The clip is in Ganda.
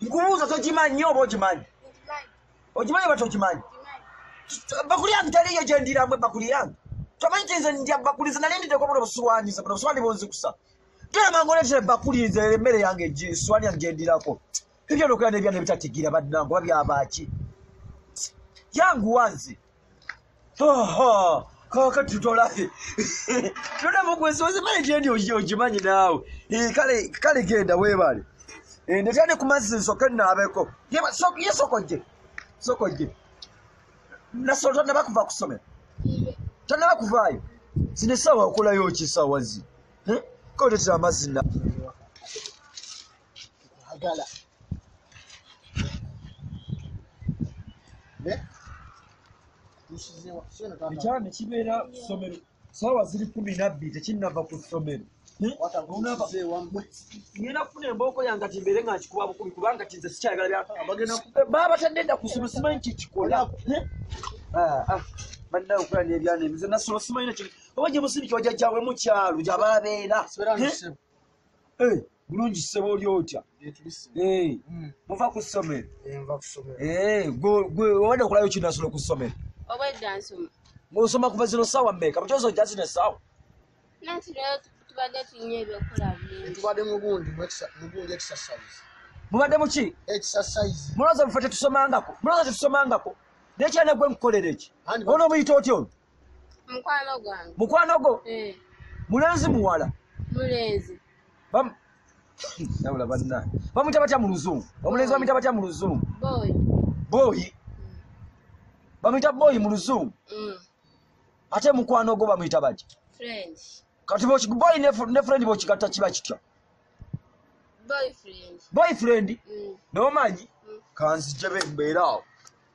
nkubuuza togimanyi nyo oba ogimanyi ogimanyi oba togimanyi bakuli yange taliyo gyendiramwe bakuli yange tomanyi ti nze ndya bakuli nze nali ndideko buno busiwani ze buno busiwani bunzikusa toyamanga oletera ebakuli nze emmere yange siwani yange gyendirako ebyo nokuya nebyana ebitatigira bannange oba byabaki yanguwa nze kakati tolahe tona mukwesoze male gyendi ogimanyi naawe eh, kale genda webale eh, ndetyane ku mazzi nsoke naabeko ye sokojje sokojje nasolo tonaba kuva kusomero tonaba kuvaayo zino esaawa okolayo okisawazi eh, koletera amazzi na tukwagala ekyala nekibeera kusomero saawa ziri kumi nabbiri tekinava ku ssomero ngenda kufuna embooko yange ti mbeere nga nkikuba bukumi kubanga ti nze sikyayagala baba batadde dda kusoma simanyi kyekikola ah, ah. bannawe okola n'ebyana ebize nasoma simanyi nakyo oba gye musiriki wajajjawe mukyalu gyababeera Eh, bulungi ssebo oli otya eh, mm. muva ku ssomero eh, gwe obadde okolayo kinasolo ku ssomero ngaosoma kuva zino saawa meka mukyozo ja zino esaawa mubadde muki muloza mufe tetusomangako muloza tetusomangako naye kyanagwe nkukolera eki ono omuyita otya ono mukwano gwange mukwano gwo eh. mulenzi muwala mulenzi nabula banna bamwita batya mu luzungu omulenzi bamwita batya mu luzungu booyi bamwita booyi mu luzungu mm. ate mukwano gwo bamwita bati kati booyi ne friend bokigatta kiba kitya boyfriend mm. nomanyi mm. kanzijebe mbeera awo